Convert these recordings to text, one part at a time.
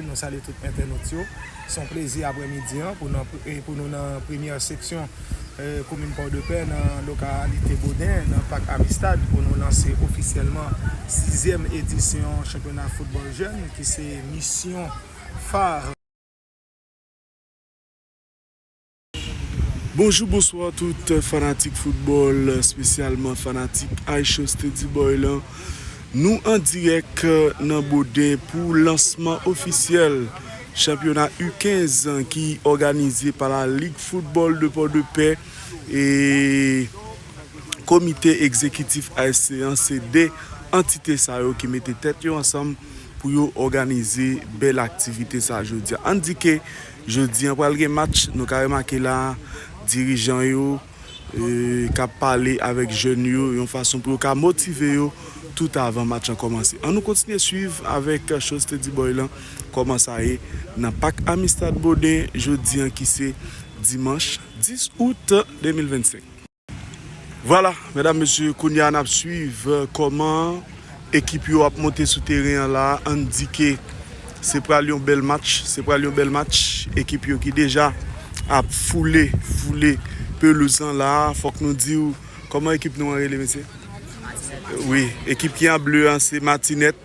Nou salye tout entènot yo. Se yon plezi aprè midi an pou nou nan premyè seksyon komin Pòdepè nan lokalite Boden nan Pak Amistad pou nou lanse ofisyèlman sizyèm edisyon chanpyona foutbòl jèn ki se misyon phare Bonjou bonswa tout fanatik foutbòl spesyalman fanatik iShow Steadyboy lan Nou an dirèk nan Boden pou lansman ofisyèl chanpyona U 15 ki òganize pa la Lig Foutbòl de Pòdepè e komite egzekitif ASC an se 2 antite sa yo ki mete tèt yo ansanm pou yo òganize bèl aktivite sa jodia An di ke Jodi an pral gen match, nou ka remake la dirijan yo kap pale avèk jèn yo yon fason pou yo ka motive yo tout avan match lan kòmanse. An nou kontinye swiv avèk Chose te di boy lan kòman sa ye nan pak Amistad Boden jodi an ki se dimanch 10 out 2025. Vwala medam mesye kounye a nap swiv kòman ekip yo ap monte sou teren an la an di ke se pral yon bèl match se pral yon bèl match ekip yo ki deja ap foule foule pelouz lan la fòk nou diw kòman ekip nou an rele mesye wi ekip ki an ble an se matinèt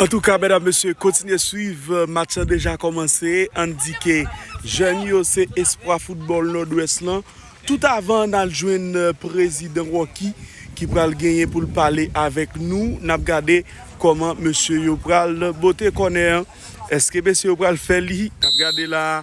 Antouka medam mesye kontinye swiv match lan deja kòmanse ann di ke jèn yo se espwa foutbòl nòdwès lan tout avan ann al jwenn prezidan Rocky ki pral genyen pou l pale avèk nou n ap gade kòman mesye yo pral bote kònè an èske mesye yo pral fè li n ap gade la a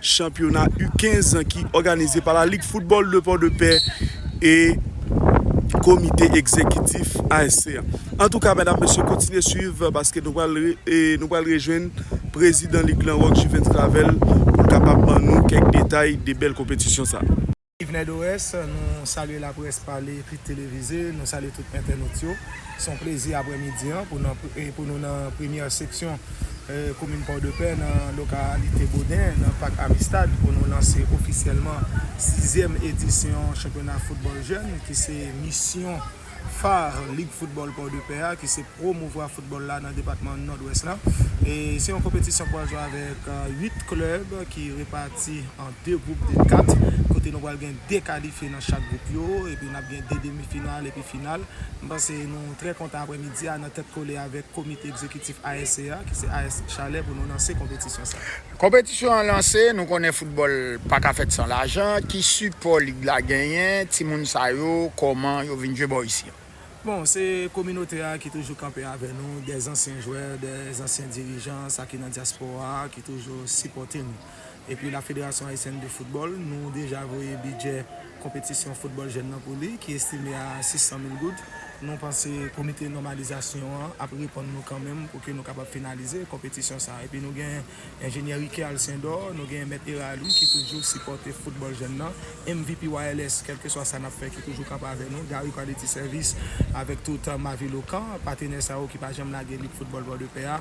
Chanpyona U 15 ki òganize pa la Lig Foutbòl de Pòdepè e Komite Egzekitif ASC a. Antouka medam mesye kontinye swiv paske nou pral rejwenn prezidan lig lan Rock Juvens Clavel pou l kapab ban nou kèk detay de bèl konpetisyon sa. Yvenè Dorès, Nou salye laprès pale ekri televize, nou salye tout entènot yo. Se yon plezi aprè midi an pou nou nan premyè seksyon komin Pòdepè nan lokalite Boden nan Pak Amistad pou nou lanse ofisyèlman sizyèm edisyon chanpyona foutbòl jèn ki se misyon Phare, Lig Foutbòl Pòdepè a ki se pwomouvwa foutbòl la nan depatman Nòdwès la. Se yon konpetisyon k pral jwe avèk 8 klèb ki repati an 2 gwoup de 4 kote nou pral gen 2 kalifye nan chak gwoup yo epi n ap gen 2 demi final epi final. M panse nou trè kontan aprèmidi a nan tèt kole avèk komite egzekitif ASC a ki se AS Chalè pou nou lanse konpetisyon sa. Konpetisyon an lanse, nou konnen foutbòl paka fèt san lajan, ki sipò lig la genyen, timoun sa yo kòman yo vin jwe bò isi an? Bon, se kominote a ki toujou kanpe avè nou, dè zansyen jwè, dè zansyen dirijan, sa ki nan dyaspora a ki toujou sipòte nou. Epi la Federasyon Ayisyèn de Foutbòl, nou deja voye bidjè. konpetisyon foutbòl jèn nan pou li ki estime a 600 mil goud. Nou panse komite nòmalizasyon an ap reponn nou kanmenm pou ke nou kapab finalize konpetisyon sa. Epi nou gen enjenyè Riquet Alcindor, nou gen mèt Herard Louis ki toujou sipòte foutbòl jèn nan, MVPYLS kèlkeswa sa n ap fè ki toujou kanpe avè nou, Garry Quality Service avèk tout Mavilocan, patenè sa yo ki pa janm lage lit foutbòl Pòdepè a.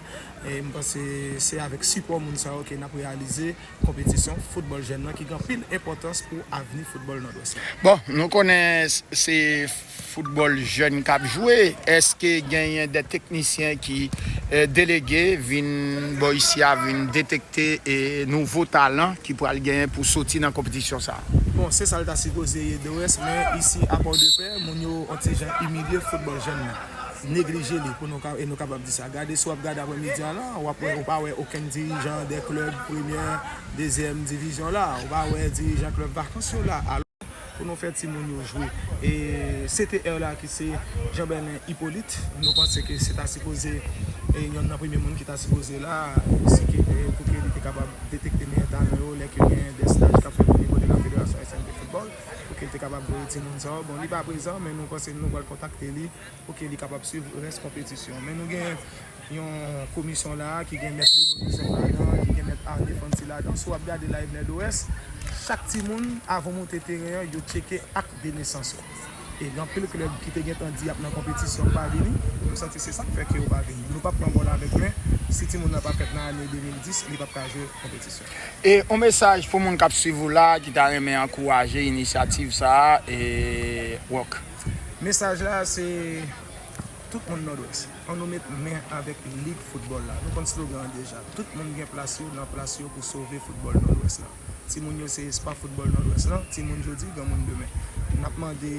M panse se avèk sipò moun sa yo ke n ap reyalize. konpetisyon foutbòl jèn nan ki gen anpil enpòtans pou avni foutbòl Nòdwès la. Bon, nou konnen se foutbòl jèn k ap jwe, èske genyen de teknisyen ki delege vin bò isi a vin detekte nouvo talan ki pral genyen pou soti nan konpetisyon sa a? Bon, se sa l ta sipoze ye Dorès, men isi a Pòdepè moun yo on ti jan imilye foutbòl jèn nan. Neglije li pou nou e nou kapab di sa. Gade si w ap gade apre midi a la, w ap wè ou pa wè okenn dirijan 2 klèb premyè, dezyèm divizyon la. Ou pa wè dirijan klèb vakans yo la. Alò pou nou fè timoun yo jwe. E CTR la ki se Jean Berlin Hyppolite, nou panse ke se ta sipoze yonn nan premye moun ki ta sipoze la si ke pou ke li te kapab detekte meyè talan yo lè ke gen 2 staj k ap fèt onivo de la Federasyon Ayisyèn de Foutbòl pou ke l te kapab voye timoun sa yo. Bon li pa prezan men nou panse nou pral kontakte li. pou ke li kapab swiv rès konpetisyon an. Men nou gen yon komisyon la a ki gen mèt Lino Joseph ladan, ki gen mèt Arne Fanti ladan. Si w ap gade la Evener Dorès, chak timoun avan w monte teren an, yo tcheke ak de nesans ou. E gen anpil klèb ki te gen tan di y ap nan konpetisyon k pa vini. M santi se sa k fè ke yo pa vini. Nou p ap pran bòl avèk men, si timoun nan pa fèt nan ane 2010, li p ap ka jwe konpetisyon. E yon mesaj pou moun k ap swiv ou la a ki ta renmen ankouraje inisyativ sa a, Rock? Mesaj la se Tout moun Nòdwès, an nou met men avèk lig foutbòl la. Nou konn slogan an deja. Tout moun gen plas yo nan plas yo pou sove foutbòl Nòdwès la. Timoun yo se espwa foutbòl Nòdwès lan, timoun jodi, granmoun demen. N ap mande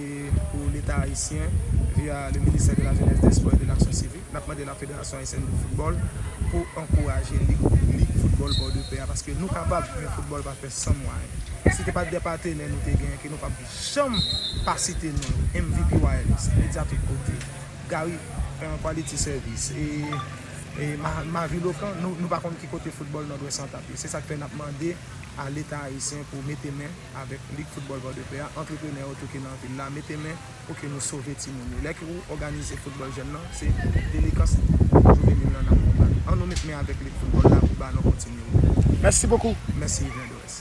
pou Leta ayisyen, via le ministère de la Jeunesse, des Sports et de l'Action Civique, n ap mande la Fédération Haïtienne de Football pou ankouraje lig foutbòl Bòdepè a paske nou kapab, men foutbòl pa fè san mwayen. Si te pa t gen patenè nou te gen ke nou p ap. Janm pa site non MVP wireless, media tout kote, Gary en quality service e Mavi Lokan nou pa konn ki kote football Nord-Ouest lan tap ye. Se sak fè nap mande a leta ayisyen pou mete men avek lig football Port-de-Paix a, antreprenè yo tou ki nan vil la mete men pou ke nou sove timoun yo. Lè ke ou òganize football jèn lan se delenkans juvenil lan nap konbat. An nou met men avek lig football la pou balon kontinye woule. Mèsi bokou. Mèsi Yvner Dorès.